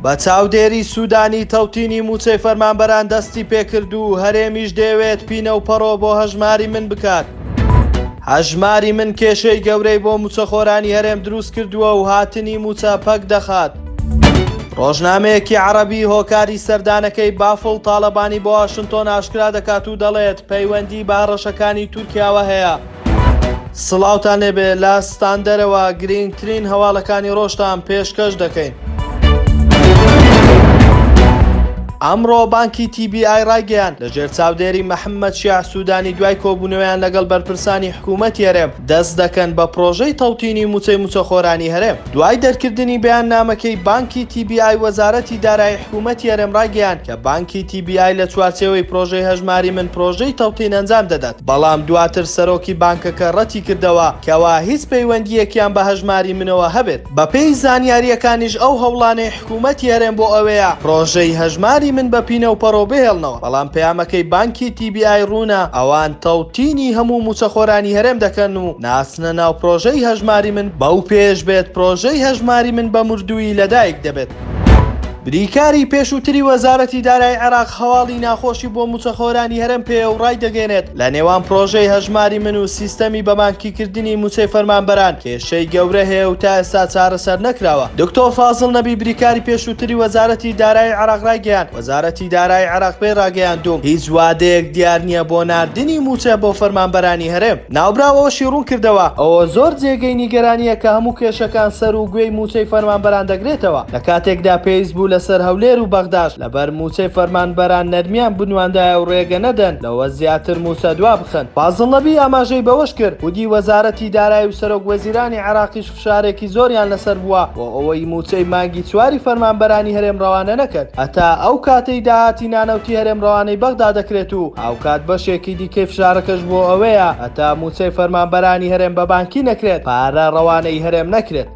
بە چاودێری سوودانی تەوتینی موچەی فەرمانبەران دەستی پێکرد و هەرێمیش دەیەوێت پینە و پەڕۆ بۆ هەژماری من بکات. هەژماری من کێشەی گەورەی بۆ موچەخۆرانی هەرێم دروست کردووە و هاتنی موچە پەک دەخات. ڕۆژنامەیەکی عەڕەبی هۆکاری سەردانەکەی بافڵ تاڵەبانی بۆ واشنتۆن ئاشکرا دەکات و دەڵێت پەیوەندی بە هەڕەشەکانی تورکیاوە هەیە. سڵاوتان لێبێ لە ستاندەرەوە گرینگترین هەواڵەکانی ڕۆژتان پێشکەش دەکەین. ئەمڕۆ بانکی TBI ڕایگەیاند لەژێر چاودێری محەممەد شیاع سوودانی دوای کۆبوونەوەیان لەگەڵ بەرپرسانی حکوومەتی هەرێم دەست دەکەن بە پڕۆژەی تەوتینی مووچەی مووچەخۆرانی هەرێم. دوای دەرکردنی بەیاننامەکەی بانکی تی بی ئای وەزارەتی دارایی حکوومەتی هەرێم ڕایگەیاند کە بانکی تی بی ئای لە چوارچێوەی پڕۆژەی هەژماری من پڕۆژەی تەوتین ئەنجام دەدات بەڵام دواتر سەرۆکی بانکەکە ڕەتی کردەوە کەوا هیچ پەیوەندییەکیان بە هەژماری منەوە هەبێت. بەپێی زانیارییەکانیش ئەو هەوڵانەی حکومەتی هەرێم بۆ ئەوەیە پرۆژەی هەژماری من بە پینە و پەڕۆ بهێڵنەوە، بەڵام پەیامەکەی بانکی تی بی ئای ڕوونە، ئەوان تەوتینی هەموو مووچەخۆرانی هەرێم دەکەن و ناچنە ناو پرۆژەی هەژماری من، بەو پێیەش بێت پرۆژەی هەژماری من بە مردوویی لەدایک دەبێت. بریکاری پێشووتری وەزارەتی دارایی عێراق هەواڵی ناخۆشی بۆ مووچەخۆرانی هەرێم پێیە و ڕایدەگەیەنێت، لە نێوان پرۆژەی هەژماری من و سیستەمی بە بانکیکردنی مووچەی فەرمانبەران، کێشەی گەورە هەیە و تا ئێستا چارەسەر نەکراوە. دکتۆر فازڵ نەبی بریکاری پێشووتری وەزارەتی دارایی عێراق رایگەیاند، وەزارەتی دارایی عێراق پێی راگەیاندووم، هیچ وادەیەک دیار نییە بۆ ناردنی مووچە بۆ فەرمانبەرانی هەرێم. ناوبراو ئەوەشی روونکردەوە، ئەوە زۆر جێگەی نیگەرانییە کە هەموو کێشەکان سەر و گوێی مووچەی فەرمانبەران دەگرێتەوە، لە کاتێکدا پێویست بوو لەسەر هەولێر و بەغداش لەبەر مووچەی فەرمانبەران نەرمیان بنواندایە و رێگە نەدەن لەوە زیاتر مووچە دوابخەن. فازڵ نەبی ئاماژەی بەوەشکرد، خودی وەزارەتی. وەزیری دارایی و سەرۆک وەزیرانی عێراقیش فشارێکی زۆریان لەسەر بووە بۆ ئەوەی مووچەی مانگی چواری فەرمانبەرانی هەرێم رەوانە نەکەن هەتا ئەو کاتەی داهاتی نانەوتی هەرێم رەوانەی بەغدا دەکرێت و هاوکات بەشێکی دیکەی فشارەکەش بۆ ئەوەیە هەتا مووچەی فەرمانبەرانی هەرێم بە بانکی نەکرێت پارە رەوانەی هەرێم نەکرێت.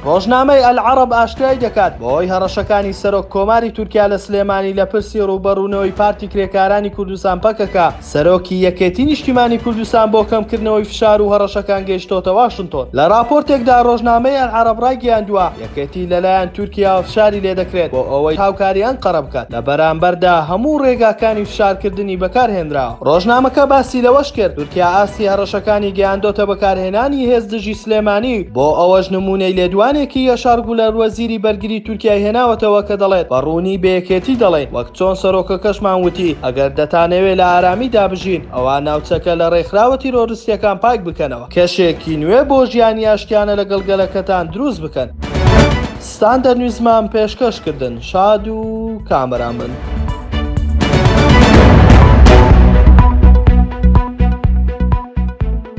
رۆژنامەی ئەلعەڕەب ئاشکرای دەکات، بەهۆی هەڕەشەکانی سەرۆک کۆماری تورکیا لە سلێمانی لە پرسی رووبەڕوونەوەی پارتی کرێکارانی کوردستان پەکەکە، سەرۆکی یەکێتی نیشتیمانی کوردستان بۆ کەمکردنەوەی فشار و هەڕەشەکان گەیشتۆتە واشنتۆن. لە ڕاپۆرتێکدا ڕۆژنامەی ئەلعەرەب ڕایگەیاندووە، یەکێتی لەلایەن تورکیاوە فشاری لێدەکرێت بۆ ئەوەی هاوکاری ئەنقەرە بکات، لە بەرامبەردا هەموو ڕێگاکانی فشارکردنی بەکارهێنراوە. ڕۆژنامەکە باسی لەوەشکرد، تورکیا ئاستی هەڕەشەکانی گەیاندۆتە بەکارهێنانی هێز دژی سلێمانی، بۆ ئەوەش نموونەی لێدوانێکی یەشار گولەر وەزیری بەرگری تورکیای هێناوەتەوە کە دەڵێت، بە ڕوونی بە یەکێتی دەڵێین، چۆن سەرۆکەکەشمان وتی، ئەگەر دەتانەوێت لە ئارامیدا بژین، ئەوا ناوچەکە لە رێکخراوە تیرۆرستییەکان پاک بکەنەوە، کەشێکی نوێ بۆ ژیانی ئاشتیانە لەگەڵ گەلەکەتان دروست بکەن. ستاندەر نیوزمان پێشکەش کردن. شاد و کامەران بن.